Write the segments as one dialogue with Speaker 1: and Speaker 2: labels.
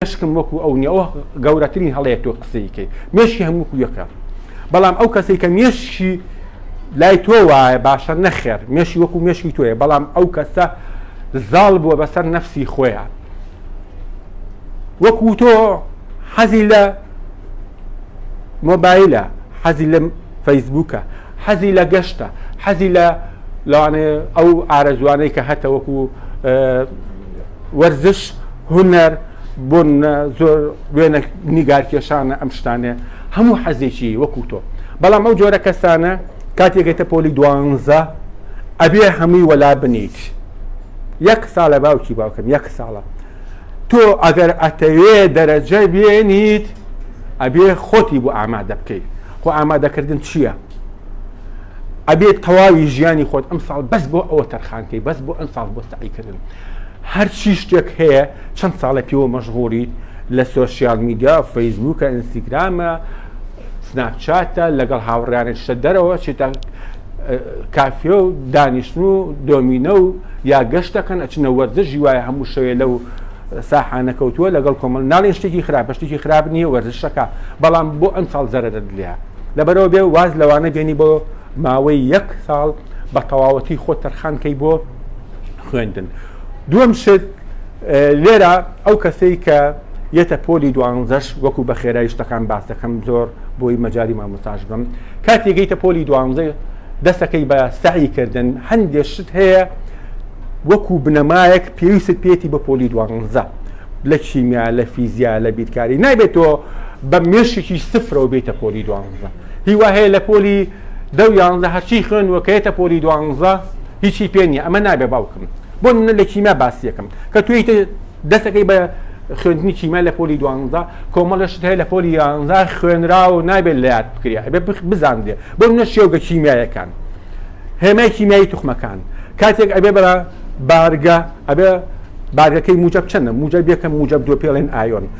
Speaker 1: مێشکم وەکو ئەو نیە ئەوە گەورەترین هەڵەیە تۆ قسەی کەی مێشکی هەموو یەکە بەڵام ئەو کەسەی کە مێشکی لای تۆ وایە باشە نەخێر مێشی وەکو مێشکی تۆیە بەڵام ئەو کەسە زاڵ بووە بەسەر نەفسی خۆیان وەکو تۆ حەزی لە مۆبایلە حەزی لە فەیسبووکە حەزی لە گەشتە حەزی لە لەوانێ ئەو ئارەزوانەی کە هەتەوەکو وەرزش، هونەر، بۆن، زۆر وێنە نیگارکێشانە ئەم شتانە، هەموو حەزێکی وەکو تۆ. بەڵام ئەو جۆرە کەسانە کاتێک گەیتە پۆلی دوانزە ئەبێ هەمووی وەلا بنیت. یەک ساڵە باوکی باوکم یەک ساڵە. تۆ ئەگەر ئەتەوێ دەرەجە بێنیت ئەبێ خۆتی بۆ ئامادە بکەیت. خۆ ئامادەکردن چییە؟ ئەبێت تەواوی ژیانی خۆت ئەم ساڵ بەس بۆ ئەوە تەرخانکەی بەس بۆ ئەم ساڵ بۆ سەعیکردن هەرچی شتێک هەیە چەند ساڵە پێوە مەشغوڵیت لە سۆشیال میدیا فەیسبووکە ئینستیگرامە سناپچاتە لەگەڵ هاوڕیانێک شتە دەرەوە چێتە کافێ و دانیشتن و دۆمینە و یا گەشتەکەن ئەچنە وەرزشی وایە هەموو شەوێ لەو ساحانە کەوتووە لەگەڵ کۆمەل ناڵێن شتێکی خراپە شتێکی خراپ نییە وەرزشەکە بەڵام بۆ ئەم ساڵ زەرەرە دلیا لەبەرەوە بێ واز لەوانە بێنی بۆ ماوەی یەک ساڵ بە تەواوەتی خۆت تەرخان کەی بۆ خوێندن دووەم شت لێرە ئەو کەسەی کە یەتە پۆلی دوانزەش وەکو بە خێرای شتەکان باس دەکەم زۆر بۆی مەجای مامۆساش بم کاتی گەیتە پۆلی دوانزە دەستەکەی بە سعی کردن هەندێک شت هەیە وەکو بنەمایەک پێویست پێێتی بە پۆلی دوانزە لە کیمیا لە فیزیا لە بیرکاری نابێت تۆ بە مێشکی سفرەوە بێتە پۆلی دوانزە هیوا هەیە لە پۆلی دە و یانزە هەرچی خوێندوە کە یەتە پۆلی دوانزە هیچی پێ نیە ئەمە نابێ باوکم بۆ نمونە لە کیمیا باسیەکەم کە توی دەسەکەی بە خوێندنی کیمیا لە پۆلی دوانزە کۆمەڵەشت هەیە لە پۆلی یانزە خوێنرا و نابێت لە یاد بکری ئەبێ بزانرێ بۆ نە شێوگە کیمیایەکان هێمای کیمیایی توخمەکان کاتێک ئەبێ بەرە بارگە ئەبێ بارگەکەی موجب چەندە موجب یەکەم موجب دو پێڵێن ئایۆن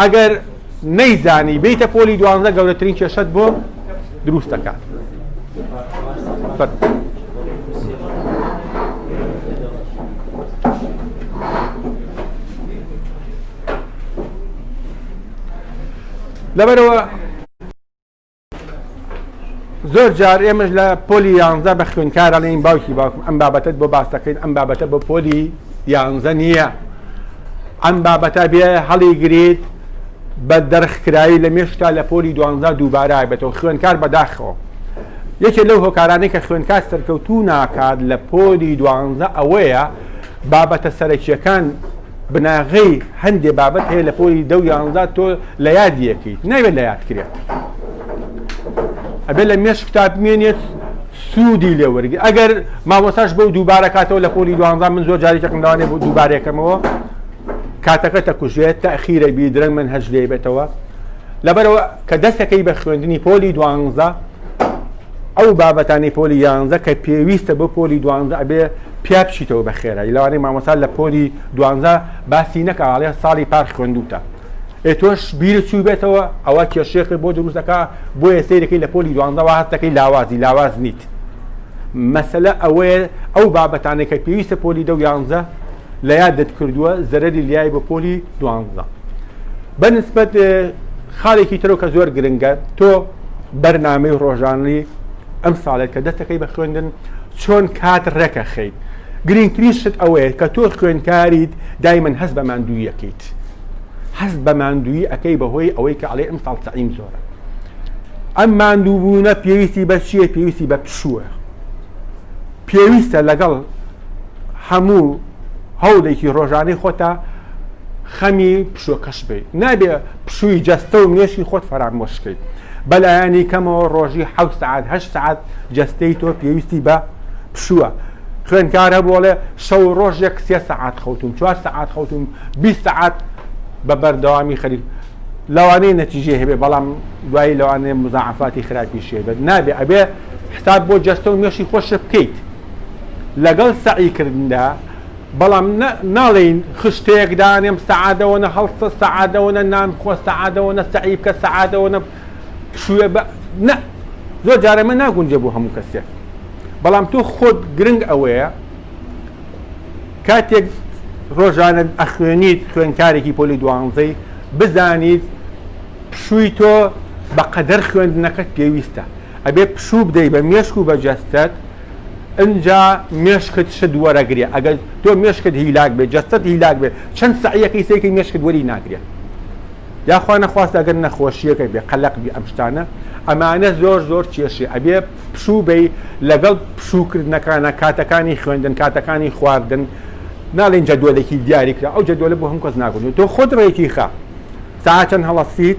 Speaker 1: ئەگەر نەیزانی بیتە پۆلی دوانزە گەورەترین کێشەت بۆ دروست دەکات لەبەرەوە زۆر جار ئێمەش لە پۆلی یانزە بە خوێنکار ئەڵێن باوکی باوکم ئەم بابەتت بۆ باس دەکەین ئەم بابەتە بۆ پۆلی یانزە نییە ئەم بابەتە بێ هەڵی گریت بە دەرخکرایی لە مێشتا لە پۆلی دوانزە دووبارای بێتەوە خوێنکار بەداخەوە یەکێ لەو هۆکارانەی کە خوێنکار سەرکەوتوو ناکات لە پۆلی دوانزە ئەوەیە بابەتە سەرەکیەکان بناغەی هەندێ بابەت هەیە لە پۆلی دە و یانزە تۆ لە یاد یەکەیت ناوێت لە یاد کرێت ئەبێ لە مێش کتاب مێنێت سوودی لێ وەرگی ئەگەر مامۆساش بەو دووبارە کاتەوە لە پۆلی دوانزان من زۆر جارێکم داوانێ بۆ دووبارێکەمەوە کاتەکە تەکوژێت تاخیرە بی درەنگ من هەج لێ بێتەوە لەبەرەوە کە دەستەکەی بە خوێندنی پۆلی دوانزە ئەو بابەتانی پۆلی یانزە کە پێویستە بۆ پۆلی دوانزە ئەبێ پیا بچیتەوە بە خێرایی لەوانەیە مامۆستا لە پۆلی دوانزە باسی نەکاڵێ ساڵی پار خوێندوتە ئێ تۆش بیر چوو بێتەوە ئەوە کێشێکە بۆ دروستەکە بۆیە سیرەکەی لە پۆلی دوانزەوە هەستەکەی لاوازی لاواز نیت مەسلە ئەوەیە ئەو بابەتانێکە پێویستە پۆلی دە و یانزە لە یادت کردووە زەرەری لیای بە پۆلی دوانزە بە نسبەت خاڵێکی ترۆ کە زۆر گرنگە تۆ بەرنامەی ڕۆژانلی ئەم ساڵێک کە دەستەکەی بە خوێندن چۆن کات ڕێکە خەیت گرنگترین شت ئەوەیە کە تۆ خوێندکاریت دای من هەست بە ماندوویەکەیت هەست بە ماندووی ئەەکەی بەهۆی ئەوەی کە ئەڵێ ئەم ساڵ تەعیم زۆرە ئەم ماندووبوونە پێویستی بە چیە پێویستی بە پشووە پێویستە لەگەڵ هەموو هەوڵێکی ڕۆژانەی خۆتە خەمی پشوەکەش بیت نابێ پشووی جەستە و مێشی خۆت فەرامۆشکەیت بەلایەنی کەمەوە ڕۆژی ح سعات هە سعات جەستەی تۆ پێویستی بە پشووە خوێنکار هەبوو بۆڵێ شەو ڕۆژ یەک سێ سعات خەوتوم چوار سعات خەوتوم بی سعات بە بەردەوامی خەریک لەوانەیە نەتیجێ هەبێ بەڵام دوایی لەوانەیە مزاعفاتی خراپی شێبێت نابێ ئەبێ حساب بۆ جەستە و مێشی خۆشە بکەیت لەگەڵ سەعی کردندا، بەڵام نە ناڵێین خشتەیەک دانێم سەعادەوەنە هەڵسە سەعادەوەنە نان خۆ سەعادەوەنە سەعی بکە سەعادەوەنە پشووێ بە نە زۆر جارە مە ناگونجێ بۆ هەموو کەسێک بەڵام تۆ خۆت گرنگ ئەوەیە کاتێک ڕۆژانە ئەخوێنیت خوێنکارێکی پۆلی دوانزەی بزانیت پشووی تۆ بەقەدەر خوێندنەکەت پێویستە ئەبێ پشوو بدەی بە مێشک و بە جەستەت ئنجا مێشکت شت وەرەگرێ ئەگەر تۆ مێشکت هیلاک بێ جەستەت هیلاک بێ چەند سەعیەکەی سەیکەی مێشکت وەری ناگرێ یاخوا نەخواست ئەگەر نەخۆشیەکە بێ قەلەق بی ئەم شتانە ئەمانە زۆر زۆر کێشێ ئەبێ پشوو بی لەگەڵ پشووکردنەکانە کاتەکانی خوێندن کاتەکانی خواردن ناڵین جەدۆلێکی دیاری کرا ئەو جەدۆلە بۆ هەم کەس ناگونێ تۆ خۆت ڕێکی خە ساعەت چەند هەڵەستیت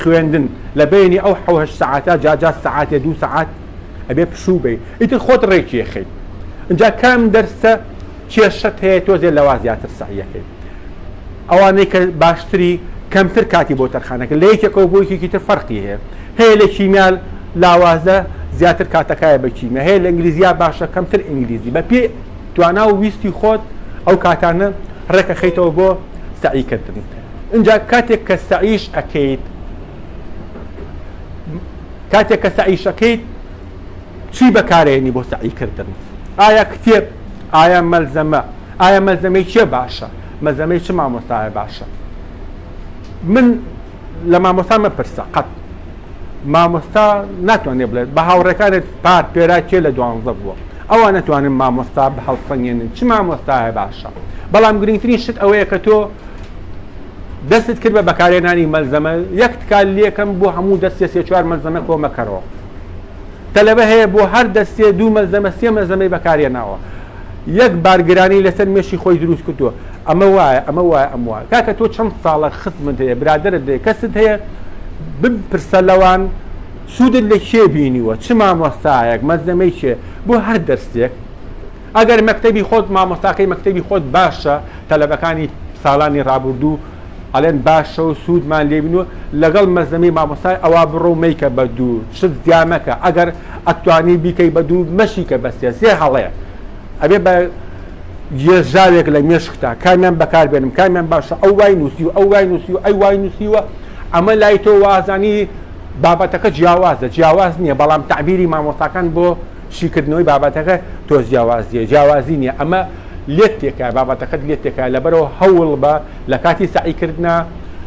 Speaker 1: خوێندن لە بەینی ئەو حەو هەشت سەعاتە جا جا سەعاتێ دوو سەعات ئەبێ پشوو بەی ئیتر خۆت ڕێکی ئەخەی ئینجا کام دەرسە کێشەت هەیە تۆزێ لەوا زیاتر سەعیەکەی ئەوانەی کە باشتری کەمتر کاتی بۆ تەرخانەکە لە یەکێکەوە بۆ یەکێکی تر فەرقی هەیە هەیە لە کیمیال لاوازە زیاتر کاتەکایە بە کیمیا هەیە لە ئینگلیزیا باشە کەمتر ئینگلیزی بە پێ توانا و ویستی خۆت ئەو کاتانە ڕێک ئەخەیتەوە بۆ سەعی کردن ئینجا کاتێک کە سەعیش ئەکەیت کاتێک کە سەعیش ئەکەیت چی بەکارێنی بۆ سەعی کردن ئایا کتێب ئایا مەلزەمە ئایا مەلزەمەی چێ باشە مەزەمەی چ مامۆستایە باشە من لە مامۆستا مەپرسە قەت مامۆستا ناتوانێت بڵێت بە هاوڕێکانت پار پێرا کێ لە دوانزە بووە ئەوان نتوانن مامۆستا بە هەڵسەنگێنن چ مامۆستا هەیە باشە بەڵام گرنگترین شت ئەوەیە کە تۆ دەستت کرد بە بەکارێنانی مەلزەمە یەک تکال لەکەم بۆ هەموو دەستێ سێ چوار مەلزەمە کۆمەکەرەوە تەلەبە هەیە بۆ هەر دەستێ دوو مەلزەمە سێ مەزەمەی بەکارێناوە یەک بارگرانی لەسەر مێشی خۆی دروست کردووە ئەمە وایە ئەمە وایە ئەم وایە کاکە تۆ چەند ساڵە خزمت هەیە برادرت هەیە کەست هەیە بپرسە لەوان سوودت لە کێ بینیوە چ مامۆستایەک مەزەمەی کێ بۆ هەر دەرسێک ئەگەر مەکتەبی خۆت مامۆستاکەی مەکتەبی خۆت باشە تەلەبەکانی ساڵانی ڕابردوو ئەڵێن باشە و سوودمان لێ بین و لەگەڵ مەزەمی مامۆستای ئەوا بڕۆ و مەیکە بە دوو شت زیا مەکە ئەگەر ئەتوانی بیکەی بە دوو مەشیکە بە سێ سێ هەڵەیە ئەبێ بە یێژاوێک لە مێشکتا کامیان بەکار بێنم کامیان باشە ئەو وای نووسی و ئەو وای نووسی و ئەی وای نووسیوە ئەمە لای تۆ وازانی بابەتەکە جیاوازە جیاواز نییە بەڵام تەعبیری مامۆستاکان بۆ شیکردنەوەی بابەتەکە تۆز جیاواز نیە جیاوازی نیە ئەمە لێت تێکایە بابەتەکەت لێت تێکایە لەبەرەوە هەوڵ بە لە کاتی سەعی کردنا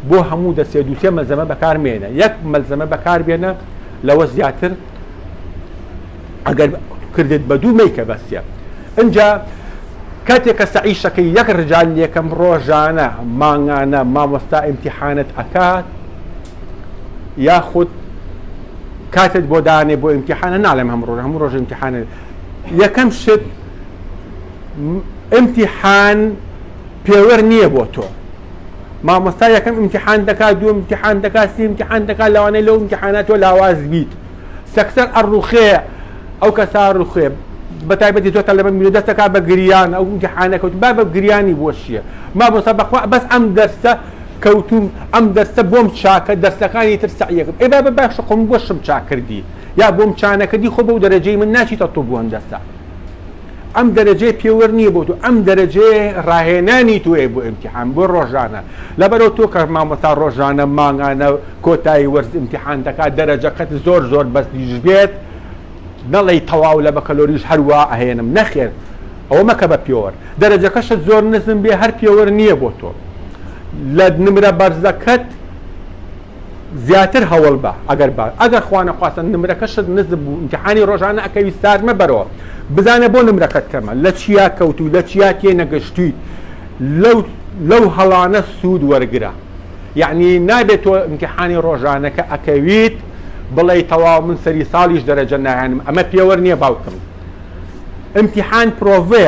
Speaker 1: بۆ هەموو دەسێ دووسێ مەلزەمە بەکارمێنە یەک مەلزەمە بەکاربێنە لەوە زیاتر ئەگەر کردت بە دوو مەیکە بەسە ئەجا کاتێک کە سەعیشەکەی یەک ڕجال لەکەم ڕۆژانە مانگانە مامۆستا ئیمتیحانت ئەکات یاخود کاتت بۆ دانێ بۆ ئیمتحانە ناڵێم هەم ڕۆژ هەموو ڕۆژ ئیمتحانە یەکەم شت ئیمتحان پێوەر نییە بۆ تۆ مامۆستا یەکەم ئیمتحان دەکات دوو ئیمتحان دەکات سی ئیمتحان دەکات لەوانەیە لەو ئیمتحانە تۆ لاواز بیت سەکسەر ئەڕوخێ ئەو کەسا ڕوخێ بە تایبەتی تۆ تەلەبە میرە دەستەکە بە گریان ئەو ئیمتحانەکەوت با بە گریانی بۆ چییە مامۆستا بەخوا بەس ئەم دەرسە کەوتوم ئەم دەرسە بۆم چاکە دەرسەکانی تر سەعیەکم ئەی بابە باشە خۆ من بۆشم چاک کردی یا بۆم چانەکردی خۆ بەو دەرەجەی من ناچیتە طوب و هەندەسە ئەم دەرەجەی پێوەر نییە بۆ تۆ ئەم دەرەجەیە ڕاهێنانی تۆیە بۆ ئیمتیحان بۆ ڕۆژانە لەبەرەو تۆ کە مامۆستا ڕۆژانە مانگانە کۆتایی وەرز ئیمتیحان دەکات دەرەجەکەت زۆر زۆر بەس دیش بێت نەڵێی تەواو لە بەکەلۆریش هەر وا ئەهێنم نەخێر ئەوە مەکە بە پێوەر دەرەجەکەشت زۆر نزم بێ هەر پێوەر نییە بۆ تۆ لە نمرە بەرزەکەت زیاتر هەوڵ بە ئەگەر بە ئەگەر خوانەخواستن نمرەکەشت نزم بوو امتحانی ڕۆژانە ئەکەوی سار مەبەرەوە بزانە بۆ نمرەکەت کەمە لە چیا کەوت و لە چیا تێ نەگەشتویت لەو لەو هەڵانە سوود وەرگرە یعنی نابێت تۆ امتحانی ڕۆژانەکە ئەکەویت بڵێی تەواو من سەری ساڵیش دەرەجە ناهێنم ئەمە پێوەر نیە باوکم امتحان پرۆڤێ